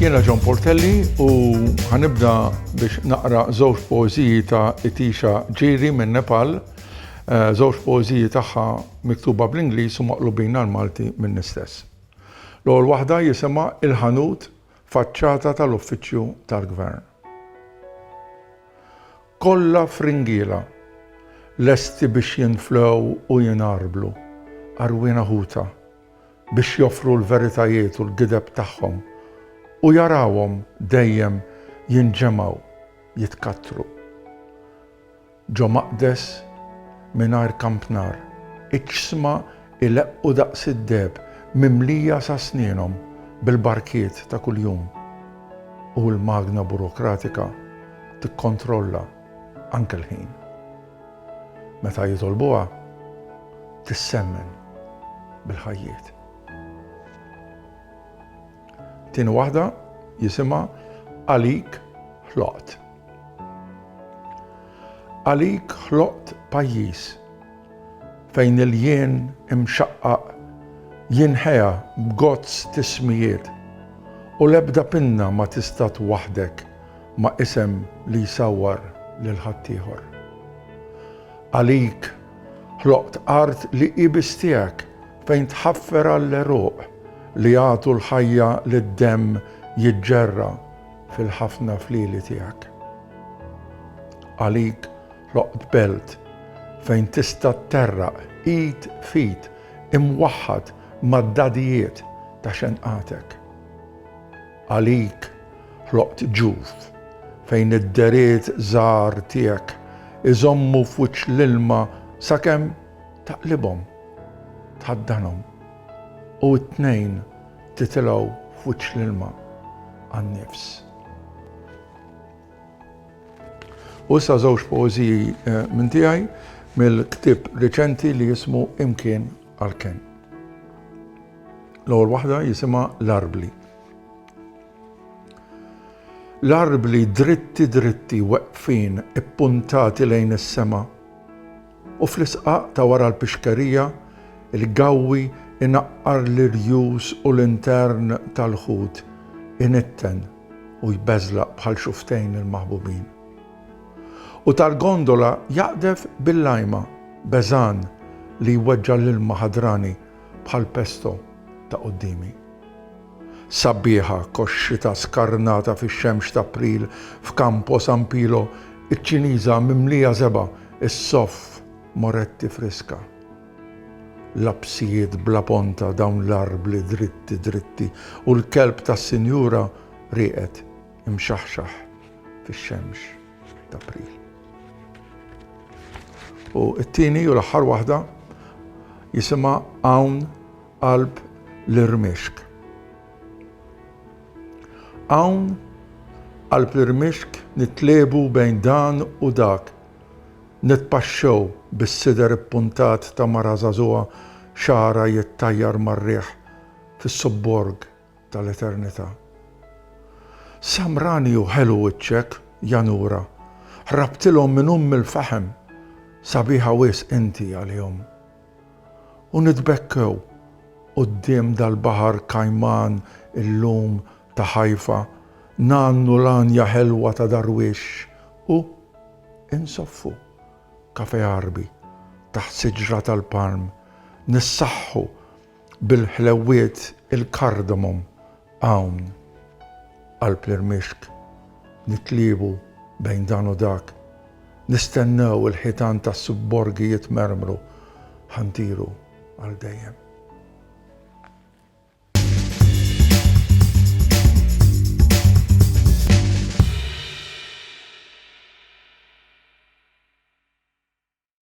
Jiena John Portelli u ħanibda biex naqra żewġ poeżiji ta' Itisha Ġiri minn Nepal, eh, żewġ poeżiji tagħha miktuba bl-Ingliż u maqlubin għall-Malti minni stess. L-ewwel waħda jisimha Il-Ħanut, faċċata tal-Uffiċċju tal-Gvern. Kollha fringiela, lesti biex jinflew u jingħarblu, għarwiena ħuta, biex joffru l-veritajiet u l-gideb tagħhom u jarawhom dejjem jinġemgħu, jitkattru. Ġo Maqdes, mingħajr kampnar, iċ-ċsma jleqqu daqs id-deheb mimlija sa snenhom bil-barkiet ta' kuljum u l-magna burokratika tikkontrolla anke l-ħin. Meta jitolbuha, tissemmen bil-ħajjiet. Tieni waħda jisimha Għalik Ħloqt. Għalik ħloqt pajjiż fejn il-jien imxaqqaq jinħea b'gozz t'ismijiet u l-ebda pinna ma tista' twaħħdek ma' isem li jsawwar lil ħaddieħor. Għalik Ħloqt art li hi biss tiegħek, fejn tħaffer għall-għeruq li jagħtu l-ħajja li d-demm jiġġerra fil-ħafna flieli tiegħek. Għalik ħloqt belt fejn tista' tterraq id f'id imwaħħad mad-dadijiet ta' xenqatek. Għalik ħloqt ġuf, fejn id-deriet żgħar tiegħek iżommu f'wiċċ l-ilma sakemm taqlibhom, tħaddanhom, u t-tnejn titilgħu f'wiċċ l-ilma għan-nifs. U issa żewġ poeżiji minn tiegħi mill-ktieb riċenti li jismu Imkien. Għalkemm. L-ewwel waħda jisimha l-arbli. L-arbli dritti dritti weqfin ippuntati lejn is-sema u fl-isqaq ta' wara l-pixkerija il-gawwi inaqqar l-irjus u l-intern tal-ħut initten u jbeżlaq bħal xuftejn il-maħbubin. U tal-gondola jaqdef bil-lajma, beżgħan li jweġġa' l-ilma ħadrani bħal pesto ta' quddiemi. Sabbieħa kos xita skarnata fix-xemx t'April f'Campo San Pilo ċ-Ċiniża mimlija żebgħa ssoff Moretti friska. Lapsijiet bla ponta dawn l-arbli dritti dritti u l-kelb tas-sinjura rieqed imxaħxaħ fix-xemx t'April. U t-tieni u l-aħħar waħda jisimha Hawn Qalb l-Irmixk. Hawn qalb l-irmixk nitlebu bejn dan u dak. Nitpaxxew bis-sider ippuntat ta' mara żagħżugħa xagħarha jittajjar mar-riħ fis-subborg tal-eternità. Samrani u ħelu wiċċek, ja nura, ħrabtilhom minn umm il-faħem, sabiħa wisq inti għalihom. U nitbekkew quddiem dal-baħar kajman illum ta' Ħajfa, ngħannu l-għanja ħelwa ta' Darwix u insoffu kafe għarbi taħt siġra tal-palm, nissaħħu Bil-ħlewwiet il-cardamom hawn qalb l-irmixk nitliebu bejn dan u dak nistennew il-ħitan tas-subborgi jitmermru ħa ntiru għal dejjem.